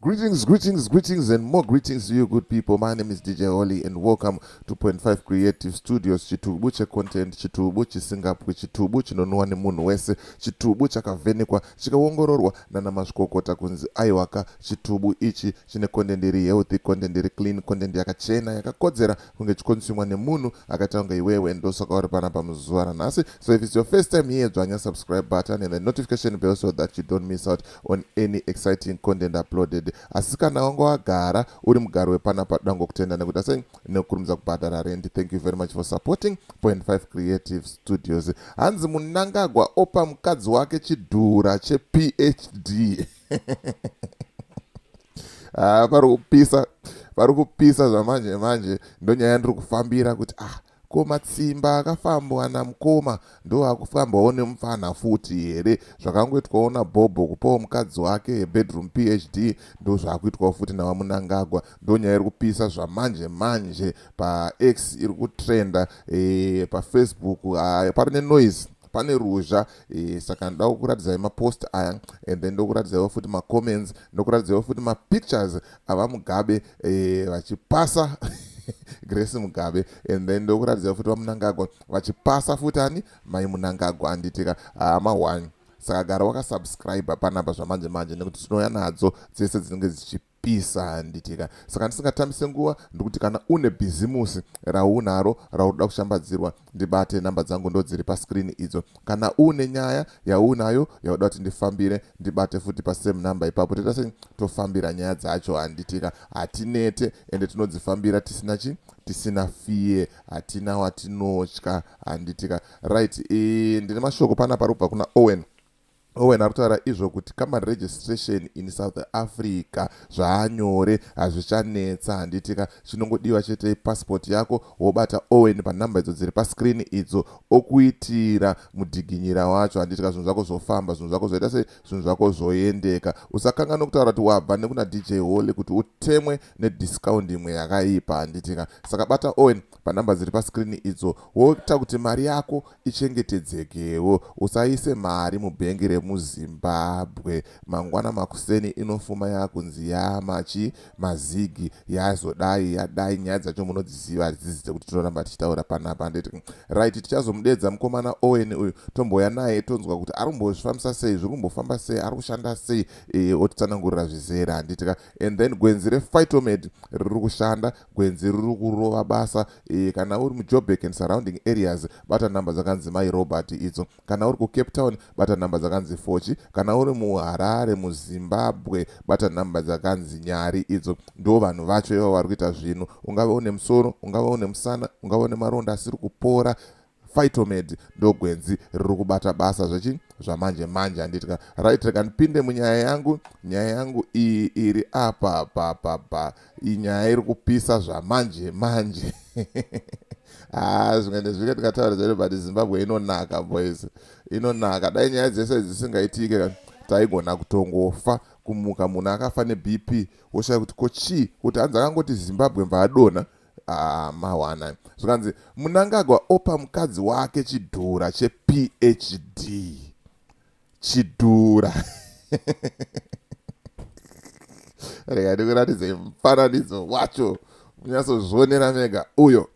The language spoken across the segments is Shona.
Greetings, greetings, greetings, and more greetings to you, good people. My name is DJ Holly, and welcome to Point Five Creative Studios. Chitubu che content, chitubu chisingapwi, chitubu chinonwa nemunhu wese, chitubu chakavhenekwa, chikaongororwa nana mazvikokota kunzi aiwaka. Chitubu ichi chine content iri healthy, content iri clean, content yakachena, yakakodzera kunge chikonsumwa nemunhu akaita kunge iwewe, ndosaka uri panapa muzuva ranhasi. So if it's your first time here, dzvanya subscribe button and the notification bell so that you don't miss out on any exciting content uploaded asi kana wanga wagara uri mugari wepanapa toda ngokutenda nekuita sei nekukurumidza kubhadhara rendi thank you very much for supporting point 5 creative studios hanzi munangagwa opa mukadzi wake chidhura chephd ah, vari kupisa vari kupisa zvamanje manje ndonyaya yandiri kufambira kuti ah Ko matsimba akafambwa namkoma ndoakufambwawo nemupfanha futi here zvakangoitwawo nabhobho kupawo mukadzi wake hebedroom phd ndozvakuitwawo futi navamunangagwa ndonyaya iri kupisa zvamanje manje pax iri kutrenda e, pafacebook pari nenoise pane ruzha e, saka ndoda kukuratidzai mapost aya and then ndokuratidzaiwo futi macomments ndokuratidzaiwo futi mapictures ava mugabe eh, vachipasa grace mugabe and then ndokuratidza futi vamunangagwa vachipasa futi ani mai munangagwa anditika hama ah, one saka gara wakasubscribe panapa zvamanje manje nekuti tinouya nadzo dzese dzinenge dzichipa pisa handitika saka ndisingatambise nguva ndikuti kana une bhizimusi raunaro raunoda kushambadzirwa ndibate number dzangu ndodziri pascreen idzo kana uune nyaya yaunayo yauda kuti ndifambire ndibate futi pasame number ipapo toita sei tofambira nyaya dzacho handitika hatinete ende tinodzifambira tisina chi tisina fiye hatina watinotya handitika right e, ndine mashoko pana parikubva kuna owen Owen ari kutaura izvo kuti company registration in south africa zvaanyore hazvichanetsa handiti ka chinongodiwa chete passport yako wobata owen panumber idzo dziri pascreen idzo okuitira mudhiginyira wacho handiti ka zvinhu zvako zvofamba zvinhu zvako zvoita sei zvinhu zvako zvoendeka usakanga nokutaura kuti wabva nekuna dj holy kuti utemwe nediscount imwe yakaipa handiti ka saka bata owen panumber dziri pascreen idzo woita kuti mari yako ichengetedzekewo usaise mari mubhengi remuzimbabwe mangwana makuseni inofuma yakunzi yamachi mazigi yazodai yadai nyaya dzacho munodziziva hadzizi dzekuti tinoramba tichitaura panapa handiti right tichazomudedza mukomana owen uyu tomboya naye tonzwa kuti ari kumbozvifambisa sei zviri kumbofamba sei ari kushanda sei e, otitsanangurira zvizere handitika and then gwenzi refightomed riri kushanda Gwenzi riri kurova basa iri. Kana uri muJoburg and surrounding areas bata nhamba dzakanzi Mai Robert idzo. Kana uri kuCape Town bata nhamba dzakanzi Fochi. Kana uri muHarare muZimbabwe bata nhamba dzakanzi Nyari idzo. Ndivo vanhu vacho ivavo vari kuita zvinhu. Ungave une musoro, ungave une musana, ungave une maronda asiri kupora, Phytomed ndogwenzi riri kubata basa zvechi zvamanje manje handitya right reka ndipinde munyaya yangu nyaya yangu iyi iri apa papapa inyaya iri kupisa zvamanje manje haa ah, zvimwe nezvike tikataura zvedu but zimbabwe inonaka boys inonaka dai nyaya dzese dzisingaitike kani taigona kutongofa kumuka munhu akafa nebp woshaya kuti ko chii kuti hanzi akangoti zimbabwe mvaadona Ah, mawana zvikanzi munangagwa opa mukadzi wake chidhura chephd chidhura rega ndikuratidze mufananidzo wacho munyatsozvionera mega uyo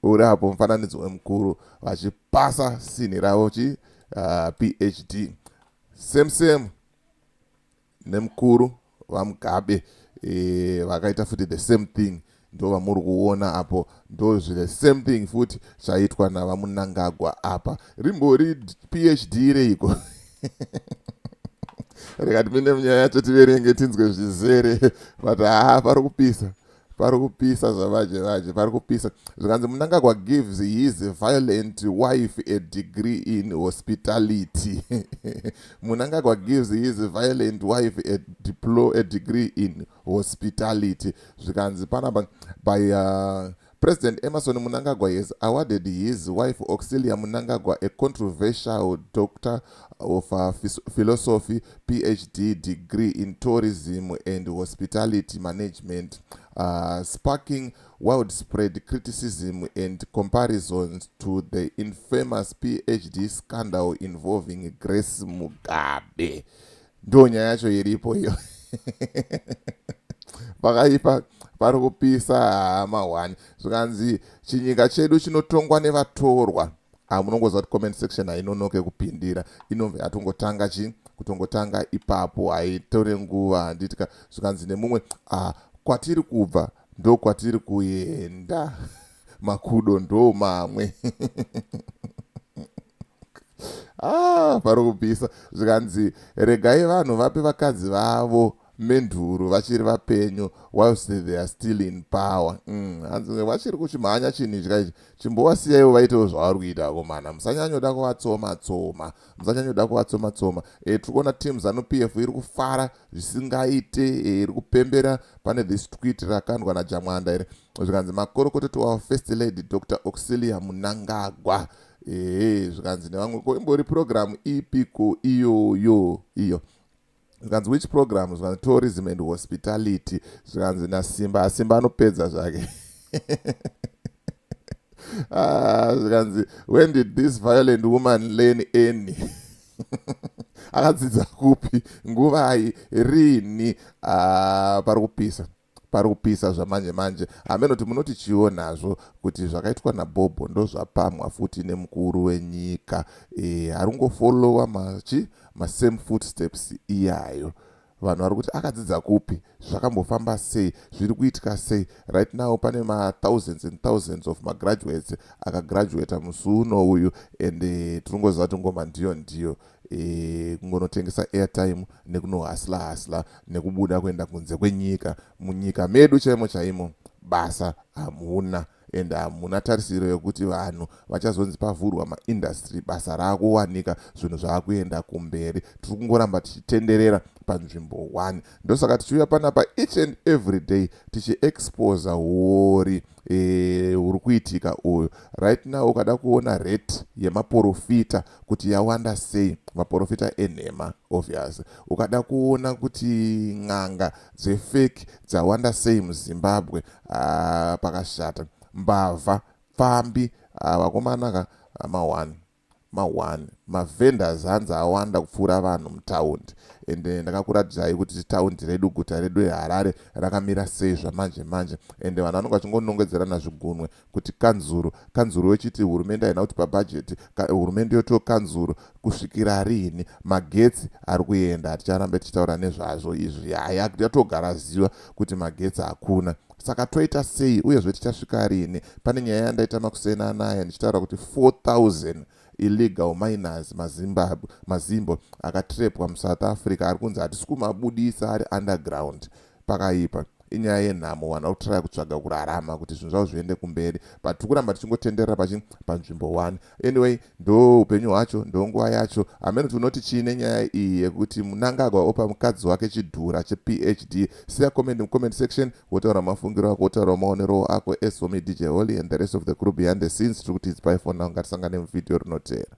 uri apo mufananidzo wemukuru vachipasa sinhi ravo chi uh, phd same same nemukuru vamugabe e, vakaita futi the same thing ndo vamuri kuona apo ndo the same thing futi zvaitwa navamunangagwa apa rimbori phd reiko rikatipinde munyaya yacho tiverenge tinzwe zvizere but haa pari kupisa pari kupisa zvavaje vaje pari kupisa zvikanzi munangagwa gives his violent wife a degree in hospitality munangagwa gives his violent wife a, diplo, a degree in hospitality zvikanzi panapa by uh, president emerson munangagwa has awarded his wife auxilia munangagwa a controversial doctor of Philosophy, PhD degree in Tourism and Hospitality Management, uh, sparking widespread criticism and comparisons to the infamous PhD scandal involving Grace Mugabe. Ndo nyaya yacho iripo iyo. Pakaipa pari kupisa hama one. Zvikanzi chinyika chedu chinotongwa nevatorwa. ah, munongoziva kuti comment section hainonoke kupindira inonge yatongotanga chii kutongotanga ipapo haitore nguva handitika zvikanzi nemumwe ah, kwatiri kubva ndo kwatiri kuenda makudo ndo mamwe ah, pari kupisa zvikanzi regai vanhu vape vakadzi vavo menduru vachiri vapenyu whilst they are still in power mm, hanzi mm, vachiri kuchimhanya chinhitya ichi chimbowasiyaiwo vaitewo zvavari kuita akomana musanyanyoda kuvatsoma tsoma musanyanyoda kuvatsoma tsoma e, tiri kuona team zanu p f iri kufara zvisingaite e, iri kupembera pane this twit rakandwa najamwanda iri zvikanzi makorokototo wavo first lady dr auxilia munangagwa ee zvikanzi nevamwe ko imbori purogiramu ipi ko iyoyo iyo, iyo. zvikanzi which program zvikanzi tourism and hospitality zvikanzi nasimba asimba anopedza zvake ah, zvikanzi when did this violent woman learn any akadzidza kupi nguvai rini ah, pari kupisa pari kupisa zvamanje manje hameno kuti munotichiwo nazvo kuti zvakaitwa nabhobho ndozvapamwa futi nemukuru wenyika e, harungofolowa machi masame footsteps iyayo vanhu vari kuti akadzidza kupi zvakambofamba sei zviri kuitika sei right now pane mathousands and thousands of magraduates akagraduata musi uno uyu and eh, tinongoziva kuti ngoma ndiyo ndiyo e, kungonotengesa airtime nekunohasla hasla nekubuda kuenda kunze kwenyika munyika medu chaimo chaimo basa hamuna and hamuna tarisiro yekuti vanhu vachazonzi pavhurwa maindastry basa raakuwanika zvinhu zvaakuenda kumberi tiri kungoramba tichitenderera panzvimbo one ndosaka tichiuya panapa each and every day tichiexposa huori e, huri kuitika uyu right now ukada kuona rate yemaporofita kuti yawanda sei maporofita enhema obvious ukada kuona kuti n'anga dzefeki dzawanda sei muzimbabwe ah, pakashata mbavha pfambi ah, vakomanaka ah, mahwani Ma one ma vendors hanzi awanda kupfuura vanhu mutaundi ende ndakakuratidzai kuti taundi redu guta redu reHarare rakamira sei zvamanje manje ende vanhu vanenge vachingonongedzerana zvigunwe kuti kanzuru kanzuru yochiti hurumende haina kutipa budget ka, hurumende yotiwo kanzuru kusvikira riini magetsi ari kuenda haticharambe tichitaura nezvazvo izvi yaya yatogara ziva kuti magetsi hakuna saka toita sei uyezve tichasvika rini pane nyaya yandaita makuseni anaya ndichitaura kuti 4000 illegal miners mazimbabwe mazimbo akatrepwa musouth africa ari kunzi hatisi kumabudisa ari underground pakaipa inyaya yenhamo vanhu vari kutraya kutsvaga kurarama kuti zvinhu zvavo zviende kumberi but tiri kuramba tichingotenderera pachi panzvimbo one Anyway ndoo upenyu hwacho ndonguva yacho hameno kuti unoti chii nenyaya iyi yekuti munangagwa opa mukadzi wake chidhura chephd siya comment mucomment section wotaura mafungiro ako wotaura maonerowo ako as for me dj holy and the rest of the crew behind the scenes tiri kuti it's by for now ngatisangane muvideo rinoteera